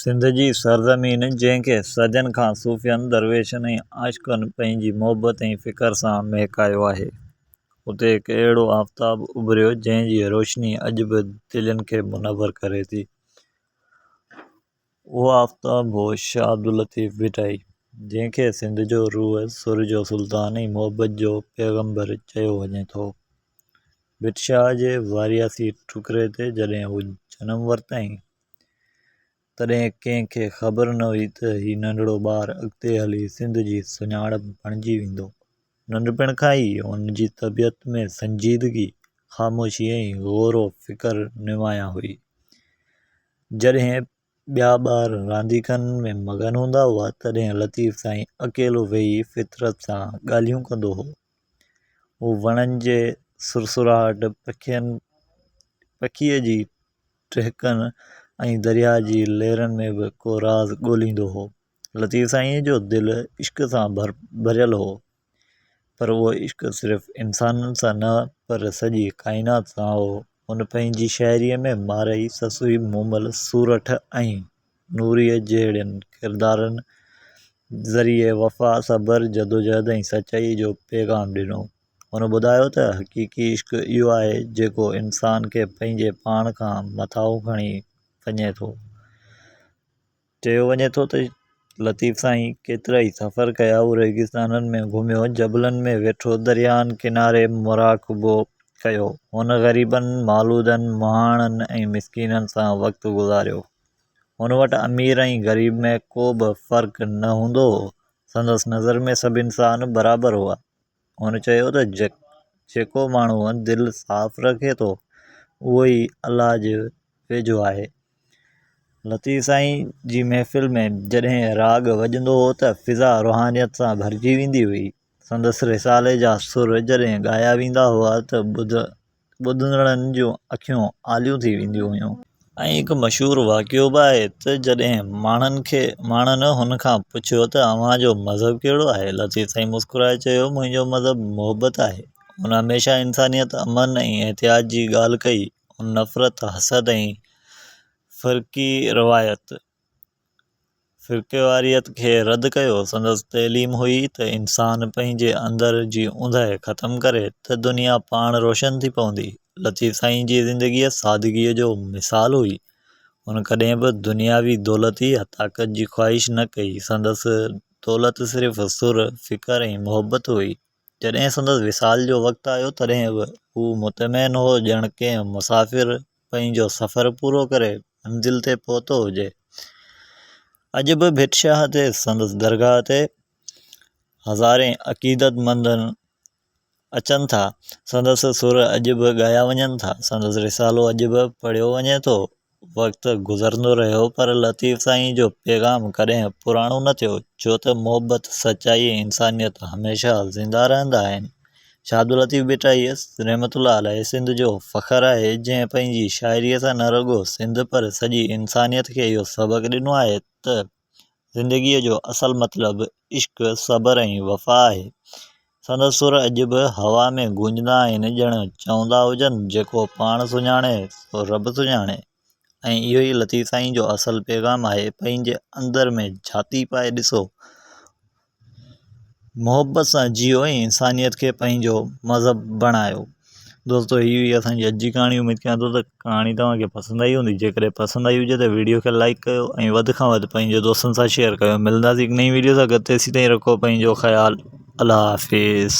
سنڌ جي سرزمين جنهن کي صدين کان صوفين، درويشن ۽ عاشقن پنهنجي محبت ۽ فڪر سان مهڪايو آهي، اتي هڪ اهڙو آفتاب اڀريو جنهن جي روشني اڄ به دلين کي منور ڪري ٿي. اهو آفتاب هو شاهه عبداللطيف ڀٽائي جنهن کي سنڌ جو روح، سر جو سلطان ۽ محبت جو پيغمبر چيو وڃي ٿو. ڀٽ شاهه جي وارياسي ٽڪري تي جڏهن هو جنم ورتائين تڏهن ڪنهن کي خبر نه هئي ته هي ننڍڙو ٻار اڳتي هلي سنڌ جي سڃاڻپ بڻجي ويندو. ننڍپڻ کان ئي هن جي طبيعت ۾ سنجيدگي، خاموشي ۽ غور و فڪر نمايان هئي. جڏهن ٻيا ٻار رانديڪن ۾ مگن هوندا هئا، تڏهن لطيف سائين اڪيلو ويهي فطرت سان ڳالهيون ڪندو هو. هو وڻن جي سرسراهٽ، پکين پکيء جي ٽهڪن ۽ درياء جي لهرن ۾ به ڪو راز ڳوليندو هو. لطيف سائينء جو دل عشق سان ڀريل هو، پر اهو عشق صرف انسانن سان نه پر سڄي ڪائنات سان هو. هن پنهنجي شاعريء ۾ مارئي، سسئي، مومل، سورٺ ۽ نوريء جهڙين ڪردارن ذريعي وفا، صبر، جدوجهد ۽ سچائيء جو پيغام ڏنو. هن ٻڌايو ته حقيقي عشق اهو آهي جيڪو انسان کي پنهنجي پاڻ کان مٿاهو کڻي وڃي ٿو. چيو وڃي ٿو ته لطيف سائين ڪيترائي سفر ڪيا، هو ريگستانن ۾ گهميو، جبلن ۾ ويٺو، درياهن ڪناري مراقبو ڪيو، هن غريبن، مالودن، مهاڻن ۽ مسڪينن سان وقت گذاريو. هن وٽ امير ۽ غريب ۾ ڪو به فرق نه هوندو هو، سندس نظر ۾ سڀ انسان برابر هئا. هن چيو ته جيڪو ماڻهو دل صاف رکي ٿو اهو ئي الله جي ويجهو آهي. لطيف سائين جي محفل ۾ جڏهن راڳ وڄندو هو ته فضا روحانيت سان ڀرجي ويندي هئي. سندس رسالي جا سر جڏهن ڳايا ويندا هئا ته ٻڌ ٻڌندڙن جون اکيون آليون ٿي وينديون هيون. ائين هڪ مشهور واقعو به آهي ته جڏهن ماڻهن کي ماڻهن هن کان پڇيو ته اوهان جو مذهب ڪهڙو آهي؟ لطيف سائين مسڪرائي چيو منهنجو مذهب محبت آهي. هن هميشه انسانيت، امن ۽ احتياط جي ڳالهه ڪئي. هن نفرت، حسد ۽ فرقي روايت. فرقيواريت کي رد ڪيو، سندس تعليم هئي ته انسان پنهنجي اندر جي اونداهي ختم ڪري ته دنيا پاڻ روشن ٿي پوندي. لطيف سائين جي زندگي سادگيء جو مثال هئي، هن ڪڏهن به دنياوي دولت يا طاقت جي خواهش نه ڪئي، سندس دولت صرف سر، فڪر ۽ محبت هئي. جڏهن سندس وصال جو وقت آيو تڏهن به هو مطمئن هو ڄڻ ڪنهن مسافر پنهنجو سفر پورو ڪري منزل تي پهتو هجي. اڄ به ڀٽ شاهه تي سندس درگاهه تي هزارين عقيدت مند اچن ٿا، سندس سر اڄ به ڳايا وڃن ٿا، سندس رسالو اڄ به پڙهيو وڃي ٿو، وقت گذرندو رهيو پر لطيف سائين جو پيغام ڪڏهن پراڻو نه ٿيو ڇو ته محبت، سچائي ۽ انسانيت هميشه زنده رهندا آهن. شاهداللطيف ڀٽائي رحمة الله عليه سنڌ جو فخر آهي جنهن پنهنجي شاعري سان نه رڳو سنڌ پر سڄي انسانيت کي اهو سبق ڏنو آهي ته زندگيء جو اصل مطلب عشق، صبر ۽ وفا آهي. سندس سر اڄ به هوا ۾ گونجندا آهن، ڄڻ چوندا هجن، جيڪو پاڻ سڃاڻي، سو رب سڃاڻي. ۽ اهو ئي لطيف سائين جو اصل پيغام آهي، پنهنجي اندر ۾ جهاتي پائي ڏسو. محبت سان جيئو ۽ انسانيت کي پنهنجو مذهب بڻايو دوستو هي هئي اسانجي اڄ جي ڪهاڻي اميد ڪيان ٿو ته ڪهاڻي توهانکي پسند آئي هوندي جيڪڏهن پسند آئي هجي ته ويڊيو کي لائڪ ڪيو ۽ وڌ کان وڌ پنهنجي دوستن سان شيئر ڪيو ملنداسين هڪ نئين ويڊيو سان گڏ تيسين تائين رکو پنهنجو خيال الله حافظ